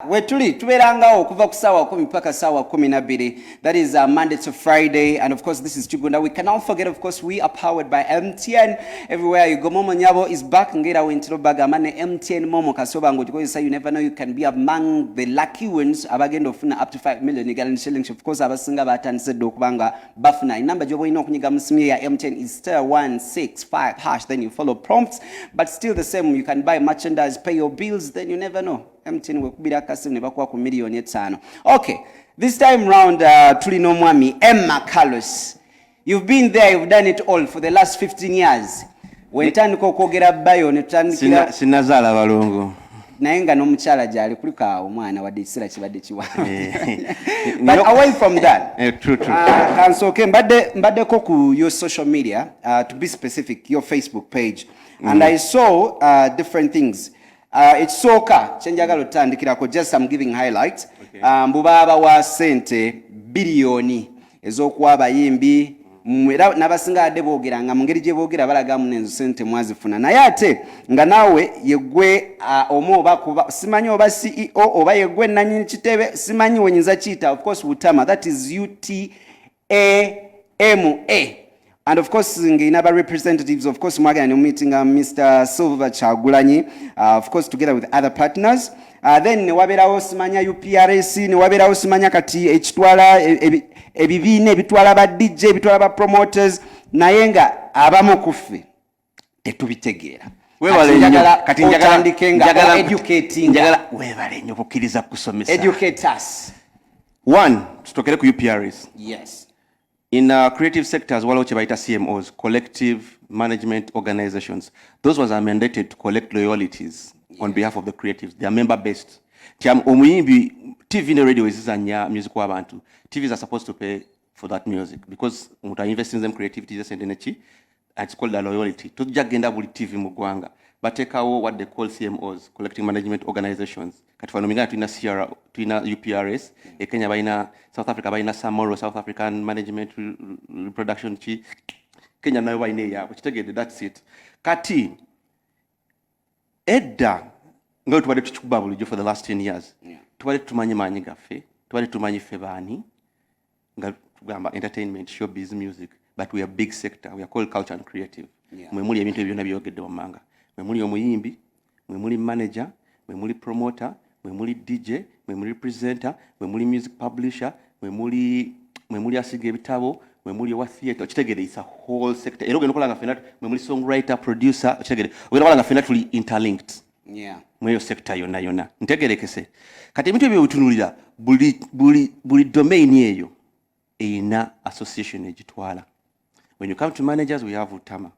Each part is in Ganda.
wetuli tubeerangawo okuva ku saawa kumi paka saawa kumi nabbiri that is uh, monday to friday and of course this is kigunda we cannot forget of course we are powered by mtn everywhere you go momo nyabo is back ngera wentiro bagamba ne mtn momo kasoba ngo tukozesa you never know you can be among the lucky ones abagenda ofuna up to 5 million egal and shillings of course abasinga batandise dde okubanga bafuna enamba gyoba olina okunyiga mu simu ya mtn is star 165 hash then you follow prompts but still the same you can buy merchandise pay your bills then you never know mtn wekubira akasimu ne bakuwa ku miliyoni etaano okay this time round uh, tuli n'omwami emma carlos you've been there you've done it all for the last 15 years wentandika okwogera bayo netutandikira sinazaala balongo naye nga n'omukyala gyali kulika omwana wadde ekiseera kibadde kiwakansoke eh. eh, ah, mbaddeko ku your social media uh, to be specific your facebook page mm. and i saw uh, different things Uh, ekisooka kyenjagala otutandikirako just am giving highlights okay. uh, mbu baabawa sente biliyoni ez'okuwa abayimbi era nabasinga adde boogera nga mu ngeri gye boogera balagamu nenzo sente mwazifuna naye ate nga naawe yegwe uh, omu oba kuba simanyi oba ceo oba yegwe nanyini kitebe simanyi wenyinza kiyita of course butama that is ut AMA and of course ngeyina ba representatives of course mwagenda ne mumitinga Mr Silver Kyagulanyi uh, of course together with other partners uh, then newabeerawo simanya uprs newabeerawo simanya kati ekitwala e, e, ebibiina ebitwala ba dj ebitwala ba promoters naye nga abamu kuffe tetubitegeera kati njagala webale nyo kukkiriza kusomesa one tutokere ku uprs yes in uh, creative sectors waliwo kyebayita cmos collective management organizations those ones are mandated to collect loyalities yeah. on behalf of the creatives they are member based nti omuyimbi tv ne radio ezizanya music w'abantu tvs are supposed to pay for that music because omuntu ainvestinzemu creativity sente neki it's called a loyalty tujja kugenda buli tv mu ggwanga bateekawo what they call cmos collecting management organizations kati fano mingana tulina cr tulina uprs e kenya balina south africa balina samoro south african management reproduction ki kenya nayo balina eyaabwe kitegedde that's it kati edda nga tubadde tukikuba bulijjo for the last 10 years yeah. tubadde tumanyi maanyi gaffe tubadde tumanyi ffe baani nga tugamba entertainment showbiz music but we are big sector we are called culture and creative yeah. mwe muli ebintu ebyo byona byogedde wammanga mwe muli omuyimbi mwe muli manager mwe muli promoter mwe muli dj mwe muli presenter mwe muli music publisher mwe muli mwe muli asiga ebitabo mwe muli owa theatre okitegede is a whole sector era ogenda okola nga fena mwe muli songwriter producer okitegede ogenda okola nga fena tuli interlinked yeah. mweyo sector yonna yonna ntegerekese kati ebintu ebyo wetunulira buli, buli, buli domain eyo eyina association egitwala when you come to managers we have utama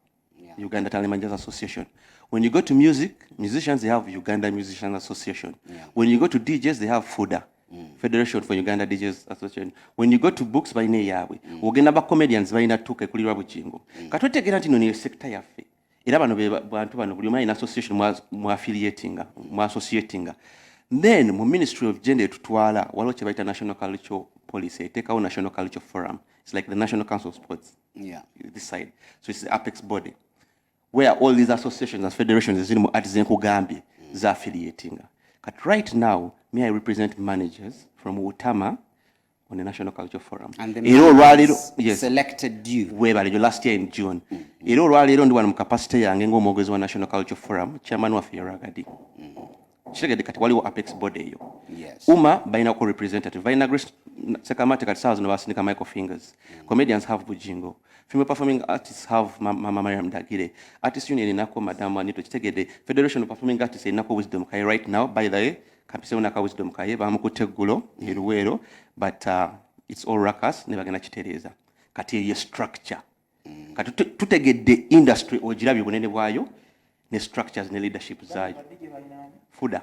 yeah. uganda talent managers association when you go to music musicians they have uganda musician association yeah. when you go to djs they have fuda mm. federation for uganda djs association when you go to books balina eyaabwe mm. ogenda ba comedians balina tuka ekulirwa bugingo mm. katotegera nti no neyo sector yaffe era bano be bantu bano buli omu alina association mu affiliatinga mu associatinga then mu ministry of gender etutwala waliwo kye bayita national cultural policy eteekawo national cultural forum it's like the national council of sports yeah. this side so it's the apex body where all these associations and federations eziri mu ati zenkugambye mm. za affiliatinga kati right now me i represent managers from utama on the National Cultural Forum. And the era olwaleero yes. selected you. Weebale nyo last year in June. Mm -hmm. Era olwaleero ndi wano mu capacity yange ng'omwogezi wa National Cultural Forum, chairman waffe Yaragadi. Mm -hmm. Kitegedde kati waliwo apex body eyo. Yes. Uma balina ku representative. Balina Grace Sekamate kati saawa zino basindika Michael Fingers. Mm -hmm. Comedians have Bujingo. Female performing artists have Mama ma, Mariam Dagire. Artist union inako Madam Anito Kitegedde. Federation of Performing Artists inako Wisdom Kai right now by the way. Kapisewo naka wisdom kaye bamukutte eggulo e Luweero but uh, it's all ruckus ne bagenda kitereeza kati eyo structure mm. kati tutegedde industry ogirabye obunene bwayo ne structures ne leadership zaayo fuda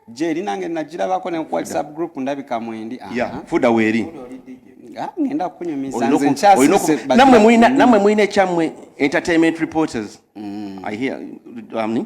gyeri nange nagirabako ne ku whatsapp group ndabika mwendi fuda weeri ah, ngenda kunyumiza nze nkyasise namwe mulina ekyamwe entertainment reporters mm. i hear amni um,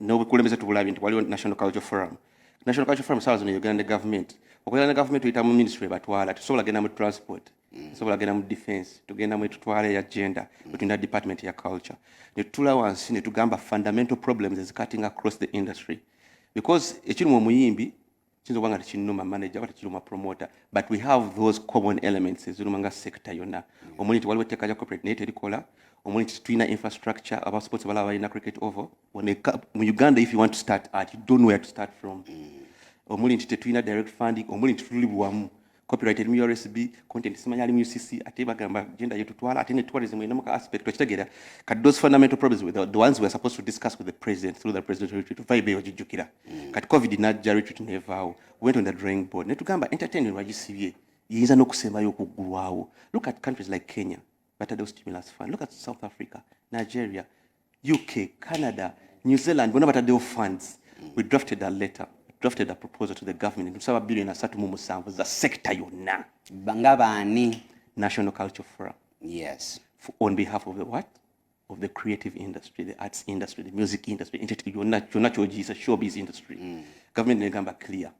n'obukulembeze tubulabye nti waliwo national culture forum national culture forum saawa zino yogera ne gavumenti okwogera ne gavumenti oyita mu ministry ebatwala tusobola genda mu transport mm. tusobola genda mu defense tugenda mu etutwala eya gender mm. wetulina department ya culture netutula wansi netugamba fundamental problems ezicutting across the industry because ekiri mu omuyimbi kiyinza okuba nga tekinuma manager oba tekiruma promoter but we have those common elements eziruma nga sector yonna omuli nti waliwo etteeka lya corporate naye terikola omuli nti tulina infrastructure aba sports balaba balina cricket over mu uganda if you want to start at you don't know where to start from mm. omuli nti tetulina direct funding omuli nti tuli bwamu copyright eri mu URSB content simanya ali mu UCC ate bagamba gender yetu twala ate ne tourism eno muka aspect okitegera kat those fundamental problems with the, the ones we are supposed to discuss with the president through the presidential retreat vibe yo jijukira mm. kat covid na ja retreat never went on the drawing board ne tugamba entertainment wa GCBA yinza no kusema yo kugulwawo look at countries like Kenya but those stimulus fund look at South Africa Nigeria UK, Canada, New Zealand bonna bataddewo funds. We drafted a letter drafted a proposal to the government ntusaba billion asatu mu musanvu za sector yonna nga baani national culture forum yes For, on behalf of the what of the creative industry the arts industry the music industry yonna kyonna kyogiyisa showbiz industry mm. government negamba clear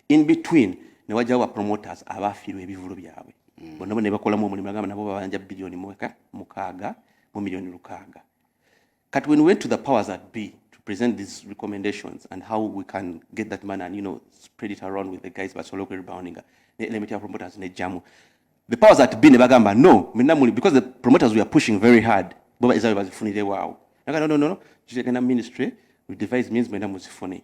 in between ne wajjawo ba promoters abaafiirwa ebivulu byabwe mm. bonna bona bakolamu omulimu agamba nabo babanja biliyoni mweka mukaaga mu miliyoni lukaaga kati when we went to the powers that be to present these recommendations and how we can get that money and you know spread it around with the guys basobole okweriboundinga ne element ya promoters nejjamu the powers that be ne bagamba no minna muli because the promoters we are pushing very hard bo ezawe bazifunire waawo naga no no no no kitegenda ministry we devise means mwenda muzifune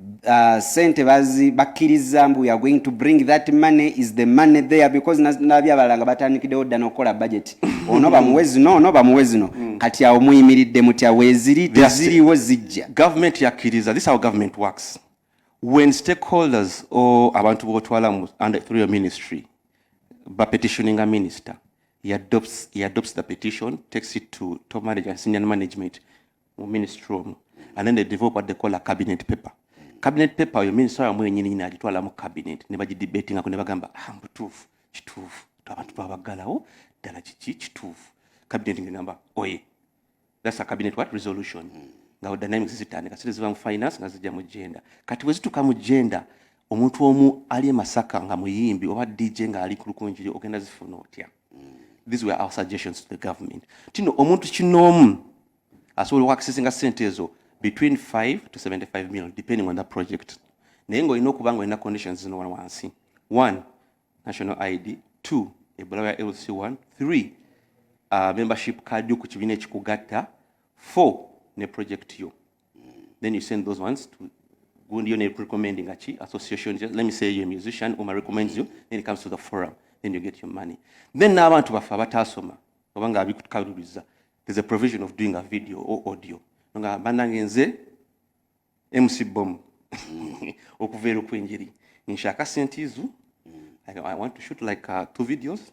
Uh, sente bazi bakkiriza mbu ya going to bring that money is the money there because nabi abalala nga batandikidewo dda nokukola budget ono bamuwe zino ono bamuwe zino mm. kati awo muyimiridde mutya weziri teziriwo zijja government yakkiriza this our government works when stakeholders or abantu botwalamu under through your ministry bapetitioning a minister he adopts, he adopts the petition takes it to top management senior management mu ministry omwo and then they develop what they call a cabinet paper cabinet paper oyo minister wamwe yenyini nyini agitwala mu cabinet ne bagidebatinga ko ne bagamba ah mbutuufu kituufu abantu twabagalawo ddala kiki kituufu cabinet ngamba oye that's a cabinet what resolution mm. nga dynamics zitandika sire ziva mu finance nga zijja mu gender kati bwe zituka mu gender omuntu omu ali e masaka nga muyimbi oba dj nga ali ku lukunjiri ogenda zifuna otya these were our suggestions to the government tino omuntu kinoomu asobola okwakisesinga sente ezo between 5 to 75 million depending on that project naye ngaolina okuba nga olina conditions zino wansi one national id two ebulawa ya lc 1 3 uh, membership card yo ku kibiina ekikugatta 4 ne project yo then you send those ones to gundi yona nga ki association let me say you're a musician uma recommends you then it comes to the forum then you get your money then n'abantu baffe abataasoma oba nga abikutukaluliza there's a provision of doing a video or audio nga banange nze mc bom okuva eri okw'enjeri nshaka sente izo i want to shoot like uh, two videos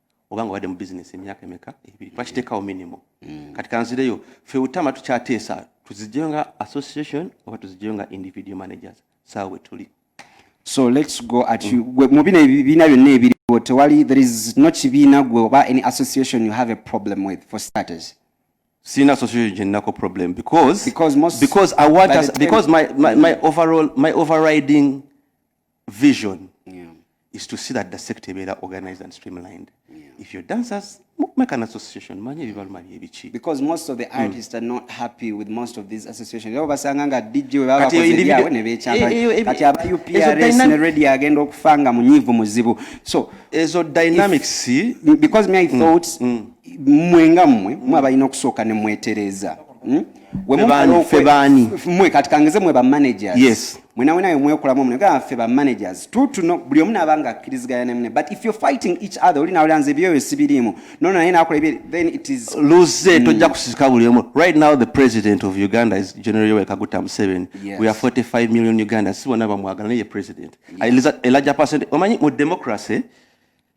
oba nga obadde mu bizinesi emyaka emeka ebiri bakiteekawo minimu mm. kati kanzireyo fe utama tukyateesa tuzijeyo nga association oba tuzijeyo nga individual managers saawa wetuli so lets go at you mm. mu bino ebibiina byonna ebiriwo tewali there is no kibiina gwe oba any association you have a problem with for starters sina association gyenako problem because because, most, because i want us, because my, my, my overall my overriding vision yeah. is to see that the sector ebeera organized and streamlined yeah. if your dancers make an association manya ebibaluma byebiki because most of the hmm. artists mm. are not happy with most of these associations abo basanga nga dj webabakozeawe nebekyakati aba uprs ne radio agenda okufa nga munyiivu muzibu so ezo dynamics if, because me i hmm. thought mm. mwe nga mmwe mwe abalina okusooka ne mwetereeza mm? mwe kati kangeze mwe ba managers yes mwena wena yomwekola mwe nga fe ba managers true to know buli omuna abanga akiriziganya ne mune but if you're fighting each other oli nawe lanze byoyo sibirimu no na yena akola ebye then it is lose mm. tojja kusisika buli omu right now the president of Uganda is General Yoweri Kaguta Museveni yes. we are 45 million Ugandans sibona bamwagala naye president yeah. a larger percent omanyi mu democracy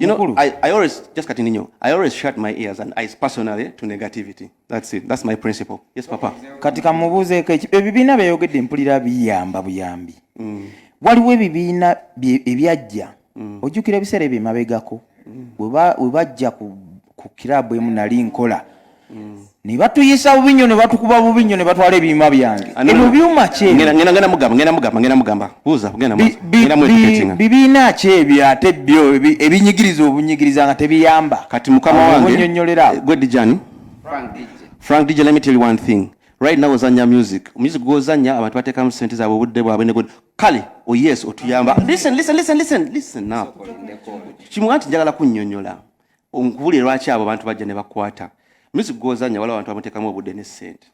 You know, I, I always just continue. I always shut my ears and eyes personally to negativity. That's it. That's my principle. Yes, Papa. Kati kamubuze ke ebibiina byeyogedde mpulira biyamba buyambi. Mm. Waliwo ebibiina ebyajja. Mm. Ojjukira ebiseera ebyo emabegako. Mm. We bajja ku, ku kirabu emu nali nkola. Mm. ne batuyisa bubi nnyo ne batukuba bubi nnyo ne batwala ebyuma byange ah, ebyo byuma kyebibiina ki ebyo ate byo ebinyigiriza obunyigiriza nga tebiyamba kati mukama wangenyonyolera eh, gwe dijani frank dj let me tell you one thing right now ozanya music music gwozanya abantu batekamu sente zabwe obudde bwabwe ne kale o oh yes otuyamba listen listen listen listen listen now kimu anti njagala kunyonyola Onkubulire lwaki abo bantu bajja ne bakwata music gwozanya wala abantu bamuteekamu obudde ne ssente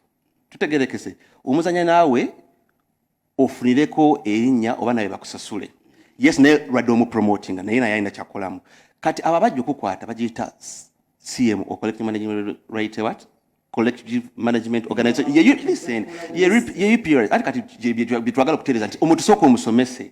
tutegerekese omuzanya naawe ofunireko erinnya oba naye bakusasule yes naye lwadde omupromotinga naye naye alina kyakolamu kati abo abajja okukwata bagiyita cm o collective management right what collective management organization ye listen ye ye period ati kati byetwagala okutereza nti omuntu soko omusomese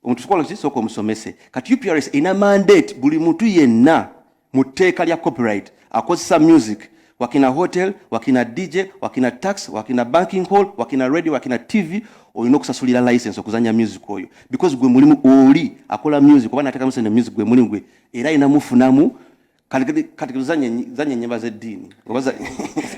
Omuntu sokola ki soko musomese. Kati UPRS ina mandate buli muntu yenna mu tteeka lya copyright akozesa music wakina hotel wakina DJ wakina tax wakina banking hall wakina radio wakina TV olina okusasulira license okuzanya music oyo because gwe mulimu oli akola music oba natekamu sente music gwe mulimu gwe era ina mufunamu kati zanye nyimba z'eddiini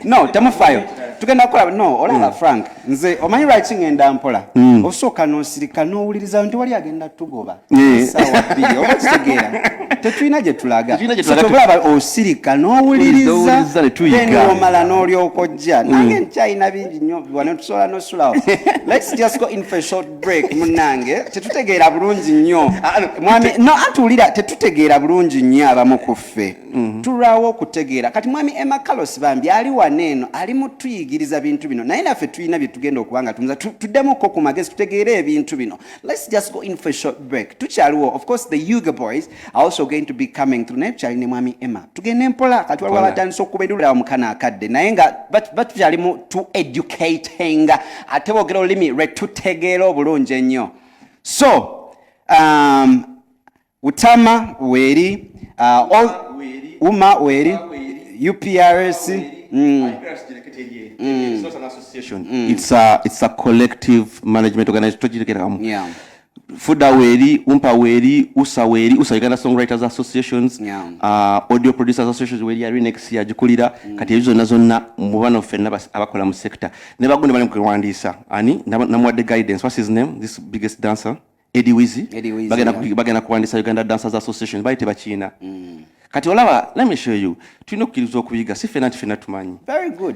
no temufayo tugenda kukola no olaba mm. frank nze omanyi lwaki ngenda mpola mm. osooka nosirika nowuliriza nti wali agenda tugoba eh. sawa bbiri oba kitegeera tetulina gye tulaga tobulaba osirika nowuliriza omala n'olyoka ojja mm. nange nkyalina bingi nyo biwane tusobola nosulawo let's just go in for short break munange tetutegeera bulungi nnyo ah, mwami no atuwulira tetutegeera bulungi nnyo abamu ku ffe mhm. tulwawo okutegeera kati mwami emma carlos bambi ali wano eno ali mutuyigiriza bintu bino naye naffe tulina bye tugenda okuba nga tumiza tuddemuko ku magezi tutegeere ebintu bino let's just go in for short break tukyaliwo of course the uga boys also going to be coming through naye tukyali ne mwami emma tugende mpola kati waliwo abatandisa okuba endulira omukana akadde naye nga batukyali mu to educating ate boogera olulimi lwe tutegeera obulungi ennyo so um, utama weeri uh, uma weeri uprs mm. Mm. It's a, it's a collective management organization. Yeah. Fuda Weri, Umpa Weri, Usa Weri, Usa Uganda Songwriters Associations, yeah. uh, Audio Producers Associations Weri yari next year jikulira mm. kati ezo nazo na mubano fenna bas abakola mu sector. Ne bagunde bali mkwandisa. Ani namwa the guidance. What's his name? This biggest dancer, Eddie Wizzy. Eddie Wizzy. Bagenda yeah. bagenda kwandisa Uganda Dancers Association bayite bachina. Mm. Kati olaba, let me show you. Tulina okukiriza okuyiga si fenna nti fenna tumanyi. Very good.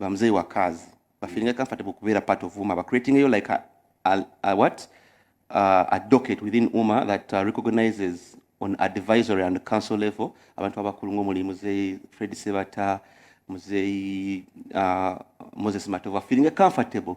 ba mzee wa kazi ba feeling comfortable kubeera part of uma ba creating yo like a, a, a what uh, a docket within uma that uh, recognizes on advisory and council level abantu abakulu ng'omuli muzeeyi fred sebata muzeeyi uh, moses matova feeling comfortable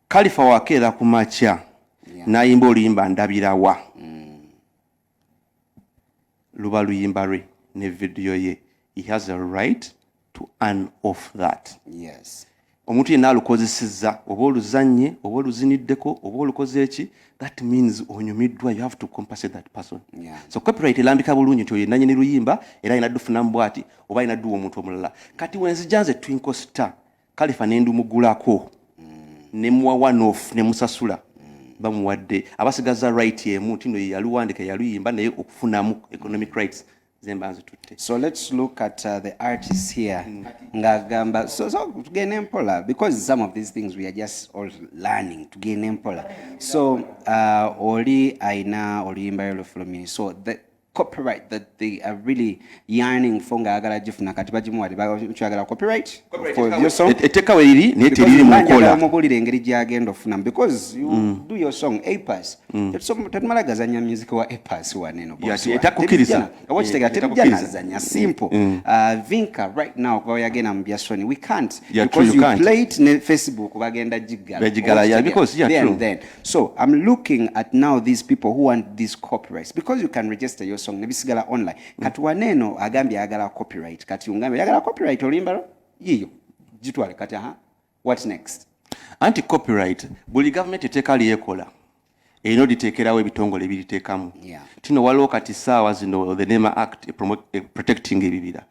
Kalifa wakeera ku makya nayimba oluyimba ndabirawa mm. luba luyimba lwe ne vidiyo ye he has a right to earn off that yes omuntu yenna alukozesezza oba oluzannye oba oluziniddeko oba olukoze eki that means onyumiddwa you have to compensate that person yeah. so copyright elambika bulungi nti oyo nanyini luyimba era alina dufunamu bwati oba alina duwa omuntu omulala kati wenzija nze twinkle star kalifa nendumugulako nemuwa one off nemusasula bamuwadde abasigaza right emu nti no yeyaluwandika yaluyimba naye okufunamu economic rights zemba nzitutte so let's look at uh, the artist here mm. ngagamba so, so tugende mpola because some of these things we are just all learning tugende mpola so uh, oli aina oluyimba lolufulumini so the, copyright that they are really yearning for nga ayagala gifuna kati bagimuwade bakyagala copyright etteka weriri naye teriri mukola mubuulire engeri gyagenda ofunamu because you mm. do your song apas mm. tetumala gazanya music wa apas waneno etakukiriza oba kitegera terija nazanya simple mm. uh, vinka right now kuba yagenda mu bya sony we can't because you play it ne facebook bagenda giggala then So I'm looking at now these people who want these copyrights because you can register your song nebisigala online. Mm. Kati waneno agambye agala copyright. Kati ungambe agala copyright olimba yiyo. Jitwale kati ha. What next? Anti copyright buli government eteka liyekola. Eino eh, ditekerawo ebitongole ebitekamu. Yeah. Tino walo kati sawa zino the NEMA Act eh, eh, protecting ebibira.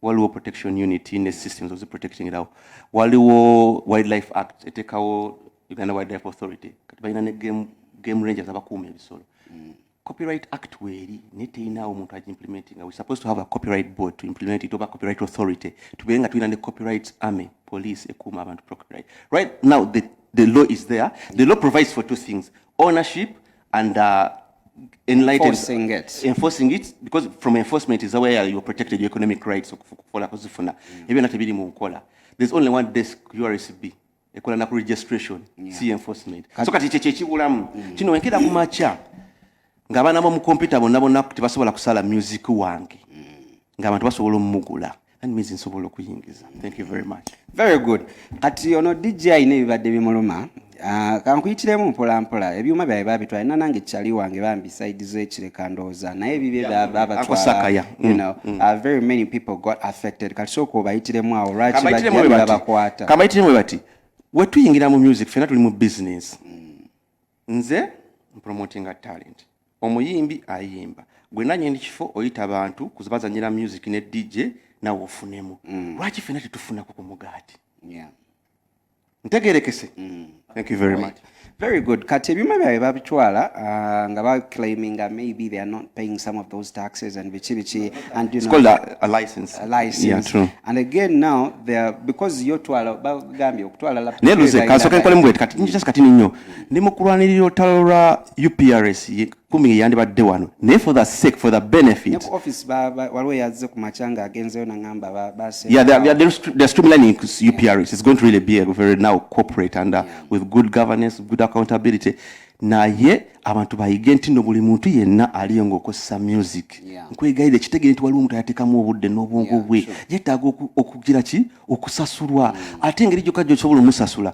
waliwo protection unit ne systems ozi protecting law waliwo wildlife act etekawo uganda wildlife authority kati balina ne game, game rangers abakuuma ebisolo mm. copyright act weeri naye teyinawo omuntu agimplementing we supposed to have a copyright board to implement it oba copyright authority tubeere nga tulina ne copyright army police ekuuma abantu copyright right now the, the law is there the law provides for two things ownership and uh, enlightened enforcing it. enforcing it because from enforcement is where you're protected your economic rights okukola kuzifuna mm. ebyo nate biri mu nkola there's only one desk URSB ekola na registration yeah. si enforcement so kati kye kyekibulamu mm. kino wenkera ku macha ng'abaana b'omu kompyuta bonna bonna tebasobola kusala music wange mm. ng'abantu basobola omugula and means nsobola okuyingiza thank you very much very good kati ono dj alina ebibadde bimuluma ah, kankuyitiremu mpola mpola ebyuma byabe babitwala ina nange kyali wange bambi side zekireka ndowooza naye bibye babatwala mm, mm. ah, very many people got affected kati sooka obayitiremu awo lwaki babakwata kabayitiremu bati wetuyingira mu music fena tuli mu business mm. nze mpromotinga talent omuyimbi ayimba gwe nanyini kifo oyita bantu kuzibazanyira music ne dj nawe ofunemu mm. lwaki fena tetufunako ku mugaati yeah. ntegerekese mm. thank you very right. much very good kati ebyuma byabwe babitwala uh, nga baclaiminga maybe they are not paying some of those taxes and biki biki and you know, a, a license, a license. Yeah, true. and again now they are, because yotwala bagambye okutwala neluze kansoka enkola mubweti kati njasi kati ninyo ndi mu kulwanirira olutalo lwa uprs kumi yandibadde wano naye for the sake for the benefit waliwo yazze ku makya nga agenzeyo nangamba they're streamlining uprs it's going to really be a very now corporate and uh, with good governance good accountability naye abantu bayige nti no buli muntu yenna aliyo ngaokozesa music nkwegayira ekitegere nti waliwo omuntu ayatekamu obudde n'obwongo bwe yetaaga okugira ki okusasulwa mm. ate engeri gyokka gyosobola omusasula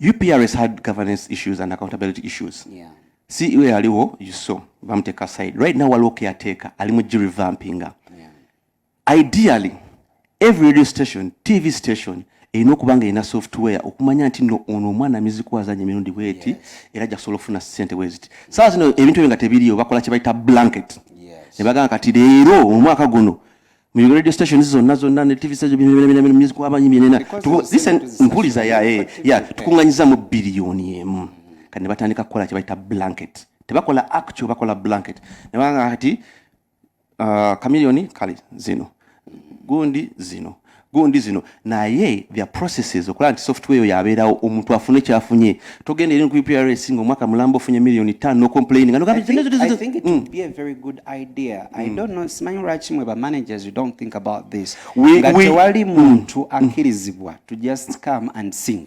UPRS had governance issues and accountability issues. Yeah. CEO yaliwo you saw bamuteka aside. Right now waliwo caretaker ali mu revampinga. Yeah. Ideally every radio station, TV station erina okuba nga erina software okumanya nti no ono omwana miziko azanya emirundi bweti yes. era ajja kusobola okufuna sente bweziti saawa zino ebintu ebyo nga tebiriyo bakola kye bayita blanket yes. ne bagamba kati leero omwaka guno mu radio stations zonna zonna ne tv station music wabayimbi nena listen mpuliza ya eh, ya tukunganyiza mu biliyoni emu kati ne batandika kukola kye bayita blanket tebakola actual bakola blanket ne banga kati uh, kamiliyoni kale zino gundi zino gundi zino naye their processes okulaba nti software eyo yabeerawo omuntu afune kyafunye togenda eri ku uprs nga omwaka mulamba ofunye millioni tano nocomplaini nga simanyi lwaki mwe bamanagers tewali muntu akkirizibwa to just come and sing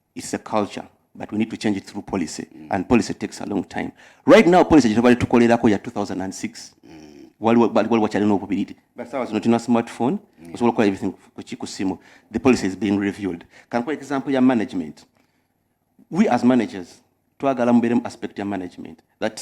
It's a culture but we need to change it through policy mm. and policy takes a long time right now policy gyetubadde tukolerako ya 2006 mm. waliwo wakyalina obubiriti but sawa zino tulina smartphone mm. osobola okukola everything kuki ku simu the policy is being reviewed kankuwa example ya management we as managers twagala mubeeremu aspect ya management that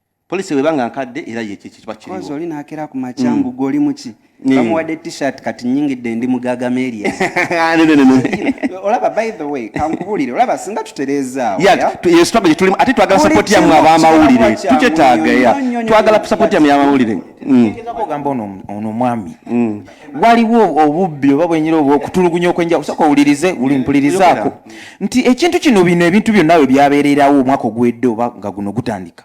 police weba nga nkadde era ye kiki kiba kiriwo kozo lina akera ku machambu mm. goli muki mm. kamu wade t-shirt kati nyingi de ndi mugaga melia ah, no no no no olaba by the way kankubulire olaba singa tutereza ya yeah, yeah? yes twabye tulimu ati twagala support ya mu aba mawulire tuche taga ya twagala support ya mu aba mawulire mm. ngeza ko gamba ono ono mwami mm. waliwo obubbi oba bwenyira obwo okutulugunya okwenja kusooka owulirize uli mpulirizaako nti ekintu kino bino ebintu byonna we byabeererawo omwaka ogwedde oba nga guno gutandika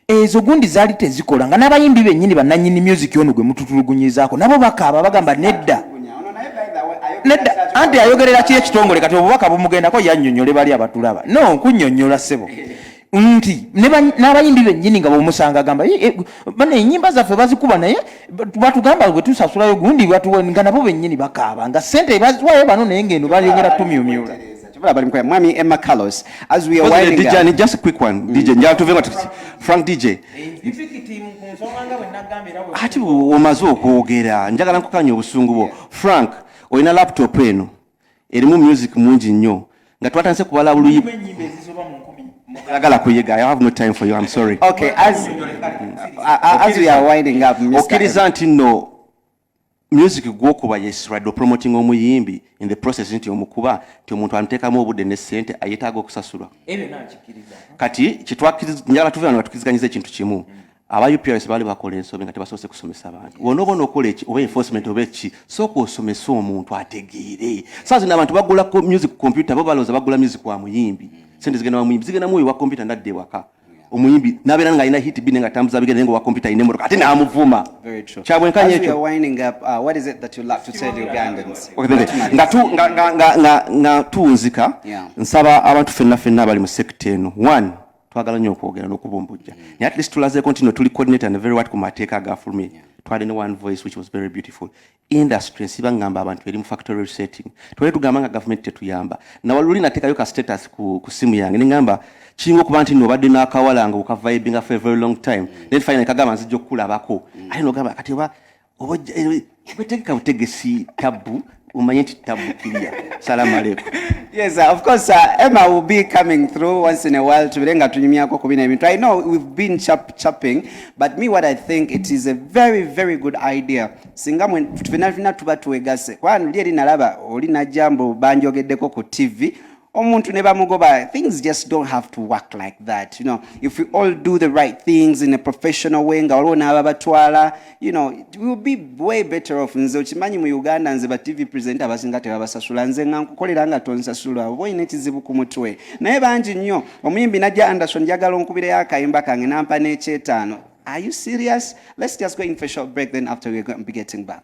ezo gundi zaali tezikola nga n'abayimbi bennyini bannanyini music ono gwe mututulugunyizaako nabo bakaaba bagamba nedda nedda anti ayogerera ki ekitongole kati obubaka bumugendako yannyonnyole bali abatulaba no nkunyonnyola ssebo nti n'abayimbi bennyini nga bomusanga agamba eh, eh, bana enyimba zaffe bazikuba naye batugamba bwetusasulayo gundi nga nabo bennyini bakaaba nga sente baziwayo bano naye ngeno bayongera tumyumyula mwami emma carlos as we are winding DJ, up just a quick one mm. dj njala tuve nga frank dj eh, ati omaze okwogera njagala nkukanya obusungu bwo frank olina laptop eno erimu music mungi nnyo nga twatandise kubala buluyi Agala kuyega. I have no time for you. I'm sorry. Okay, as uh, as we are winding up, Mr. Okiriza nti no music gwokuba yes radio promoting omuyimbi in the process nti omukuba nti omuntu amutekamu obudde ne sente ayetaaga okusasulwa. Ebyo nakikiriza. Kati kitwakiriza njala tuve wano tukiziganyiza ekintu kimu. Mm. aba UPRS bali bakola ensobi nga tebasoose kusomesa bantu wona obona okola eki oba enforcement oba eki sooka osomese omuntu ategeere saa zino abantu bagula music computer bo balowooza bagula music wa muyimbi sente zigenda wa muyimbi zigenda muoyo wa computer nadda ewaka omuyimbi nabeera nga alina hit bine nga tambuza bigenda nga owa computer alina emotoka ate namuvuma kyabwenkanya ekyo nga tunzika nsaba abantu fenna fenna abali mu sekta eno one twagala nyo okwogera nokubumbujja mm. naye at least tulazeeko nti no tuli coordinator ne very wat ku mateeka agafulumye yeah. twali ne one voice which was very beautiful industry nsiba ngamba abantu eri mu factory resetting twali tugamba nga government tetuyamba nawaluli natekayo ka status ku, ku simu yange nengamba kiringa okuba nti nobadde nakawala nga okavibinga for a very long time mm. then finally kagamba nzija okukulabako mm. ate nogamba kati oba oba eh, tegeka butegesi tabu umanye nti tabu kiriya salamu aleku yes uh, of course uh, emma will be coming through once in a while tubire nga tunyumyako ku bino ebintu i know we've been chap chapping but me what i think it is a very very good idea singa mwe fina fina tuba tuwegase kwani uli eri nalaba oli najambo banjogeddeko ku tv omuntu ne bamugoba things just don't have to work like that you know if we all do the right things in a professional way nga waliwo n'ababatwala you know it will be way better off nze okimanyi mu uganda nze ba tv presenter abasinga tebabasasula nze nga nkukolera nga tonsasula oba olina ekizibu ku mutwe naye bangi nnyo omuyimbi najja anderson njagala onkubireyo akayimba kange nampa n'ekyetaano are you serious let's just go in for short break then after we're going to be getting back